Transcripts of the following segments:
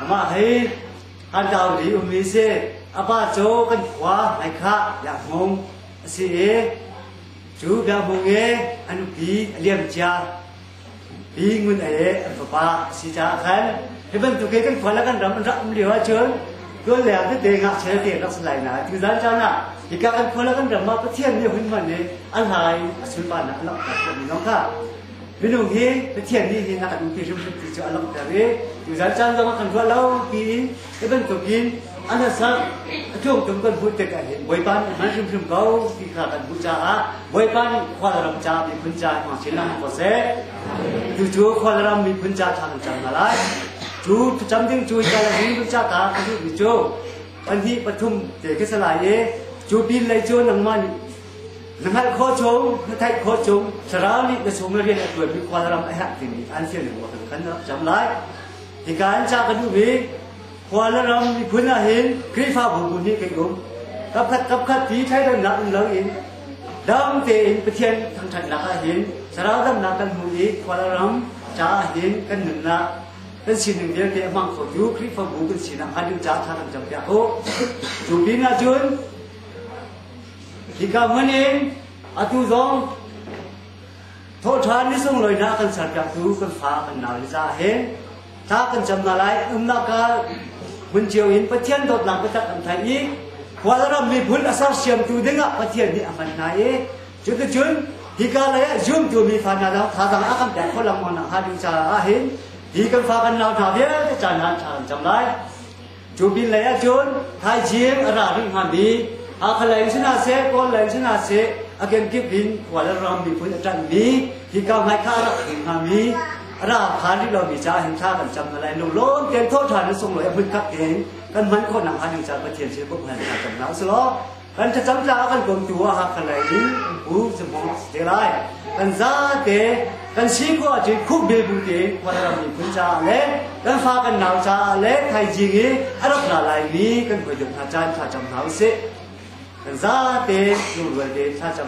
Amah he kan dau li um ve se, a pa cu kan khua mai khah biak mung a si i cu biak mung e an pi a liam cia pi ngun e an fapa a si caah khan hi bantuk e kan khua la kan ram an rak um lio ahcun tuan le ah tete ngah chel te rak salai na tu zan caan ah hika kan khua la kan ram ah pathian nih hun man e a hlai a sulpan ah a lak tak ko mi nong kha Minung hi Pathian nih hin a duh ti hrimhrim ti cu a langhter i tuzan caan zong a kan ruah lo tiin hi bantuk in a nasak a tlungtum kan hmuh tik ah hin Bawipa nih a hman hrimhrim ko ti kha kan hmuh caah Bawipa nih khualram ca miphun ca hmang chin ah ko seh tu cu khualram miphun ca ṭha cang hna lai cu cam ding cu ca le hin ca ka ka duhmi cu pahnih pathum te ka salai i cu pin lei cu nangmah nih Na hngalh khawh chung, na theih khawh chung, thlarau nih na chung rian a tuanmi khualram a herh timi an fial in kan kan rak cam lai. Hika an ca ka duh i khuala ram miphun ah hin Khrihfabu tu nih kan um. Kapkhat kapkhat ti thaidannak um lo in dam tein Pathian thangthatnak ah hin thlarau damnak kan hmu i khuala ram caah hin kan nunnak kan sining vialte a hmang khotu Khrihfabu kan sinak hngalh ding ca tha kan cam piak u. Cu pinah cun Hika hmanh in atu zong thawhṭhan ni sunglawinak kan serpiaktu kan fa kan nau le za he thla kan cam hna lai umnak ah hmun cio in Pathian dawtnak biatak kan theih i khualram miphun a sersiamtu dingah Pathian nih a hman hna i cuticun hika lei ah zumtu mi fa hna dah thazang a kan pek kho lengmang nak hnga ding caah hin hi kan fa kan nau hna vialte caan hlan thla kan cam lai Cu pin lei ah cun thaizing a ra rih hnga mi Hakha lei in si hna seh, Kawl lei in si hna seh, a kenkip in khual ram miphun a ṭanh mi hi ka hmai kha a rak ring hnga mi a ra phan rih lo mi caah hin thla kan cam hna lai lunglawm tein thawh ṭhan in sunglawi a hmunkhat in kan hman khawh nakhnga ding caah Pathian sin i bawmh hna cam hna u sih law Kan thlacam caah kan komtu ah Hakha lei in an pu Zimhung a si te lai. Kan zate kan si khawh ahcun khuh bil bu te Khual ram miphun caah le kan fa kan nau caah le thaizing i a rak ra lai mi kan hruaitu hna caan thlacam hna usih. Kan zate lungrual te thlacam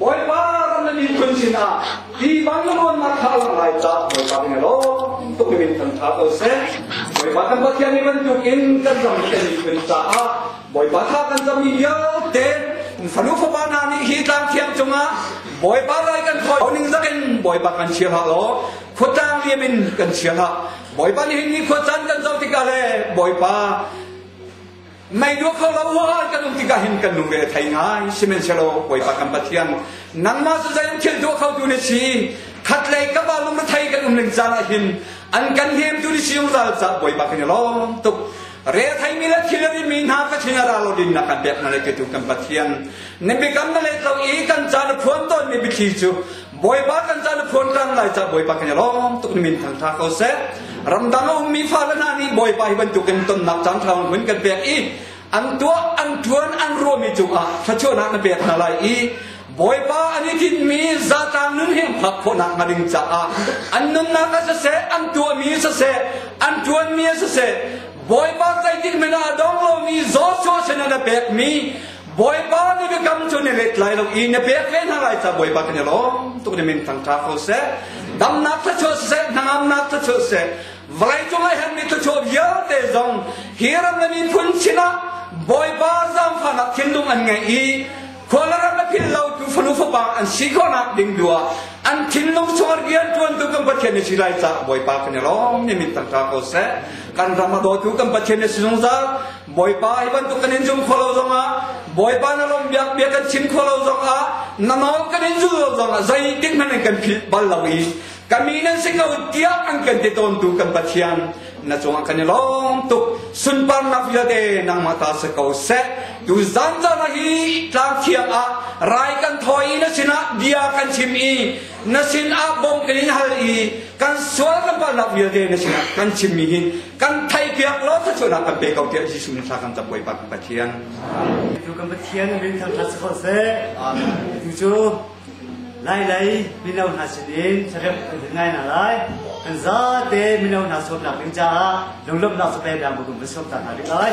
Bawipa kan na miphun sinah hi vanlamawnnak kha a lang lai caah Bawipa kan lo tuk in kan tha ko seh. Bawipa kan Pathian ni bantukin kan ram kan miphun caah Bawipa kha kan ram vialte fanu fapa hna nih hi tlang thiang cungah Bawipa lai kan khoi ning zakin Bawipa kan chia hak lo khuatang liam in kan chia hak Bawipa nih ni khuachan kan zo tikah le Bawipa Mei dua kho lo an kan um tikah hin kan lungre a thei ngai sihmanhsehlaw Bawipa kan Pathian nangmah cu zei thil dua kho tu ni si khat lei ka ba lung thei kan um ning caan ah hin an kan hnem tu ni si zungzal ca Bawipa kan i lawm tuk re thai mi le thil ri mi hna ka thin ara lo din na kan pek na le tu kan Pathian ne bikam na le tlo i kan caan phuan ton mi bithi cu Bawipa kan ca na phuan tlang lai ca Bawipa kan i lawm tuk min thangtha ko seh ramdang a ummi fale hna nih Bawipa hi bantukin tonnak caan thlau hun kan pek i an tuah an tuan an ruami cungah thlachuahnak na pek hna lai i Bawipa an i tinmi zatlang nun hi phak khawhnak hnga ding caah an nunnak ah siseh an tuahmi siseh an tuanmi siseh Bawipa zeitin men ah dong lomi Joshua sinah na pekmi Bawipa nih biakam cu na let lai lo i na pek ve hna lai ca Bawipa kan i lawm tuk ne min thang ṭha ko seh damnak tha chuah seh hnangamnak tha chuah seh vawlei cung ai han mi thucho vialte zong hi ram le mi phun sinah Bawipa zaangfahnak thinlung an ngei i khual ram le phil lo tu fanu fapa an si khawnak ding dua an thinlung chungah rian tuan tu kan Pathian ni si lai ca Bawipa kan i lawm ni min tang ṭha ko seh kan ram a daw tu kan Pathian ni si zungzal Bawipa hi bantuk kan in zum kho lo zongah Bawipa na lawmh biak bia kan chim kho lo zongah na nawl kan in zul lo zongah zeitik hmanh an kan philh bal lo i kami nan si ko tiah an kan ti tawntu kan Pathian na cungah kan i lawm tuk sunparnak vialte nangmah ta si ko seh tu zan zan hi tlang thiang ah rai kan thoi na sinah bia kan chim i na sinah bom kan in hal i kan sual kan palak vialte na sinah kan chimmi hi kan theihpiak lo cu cunak kan pe ko tiah Jesuh nih thla kan cam puai pak Pathian. Tu kan Pathian min thang hla sukho seh. Tu cu lai lai mino hna sinin sarep kan din ngai na lai. Kan zate mino hna sawmnak ding caah lunglawmhnak cu pe dang bu kum sawm ta hna ding lai.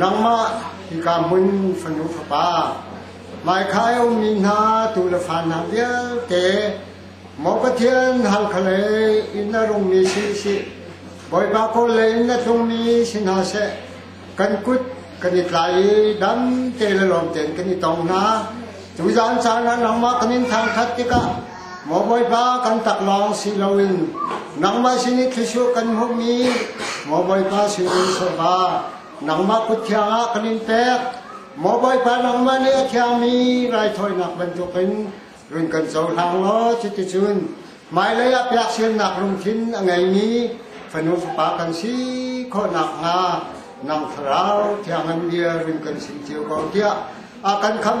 Nangmah hika hmun fanu fapa, hmaikhah i a ummi hna tuu le fa hna vialte, maw Pathian halkhalei i na rungmi si sih, Bawipa kawl lei in na tlungmi si hna seh, kan kut kan i tlai i dam te le lawm tein kan i tong hna. Tuzan caan ah nangmah kan in thangṭhat tikah maw Bawipa kan tak lawng si loin nangmah sin i thlisur kan hmuhmi maw Bawipa sinin sawva nangmah kut thiangah kan in pek maw Bawipa nangmah nih a thiangmi raithawinak bantukin run kan cohlang law cuticun hmailei ah piaksiannak lungthin a ngeimi fanu fapa kan si khawhnak hnga nang thlarau thiangan bia run kan sim cio ko tiah a kan khamh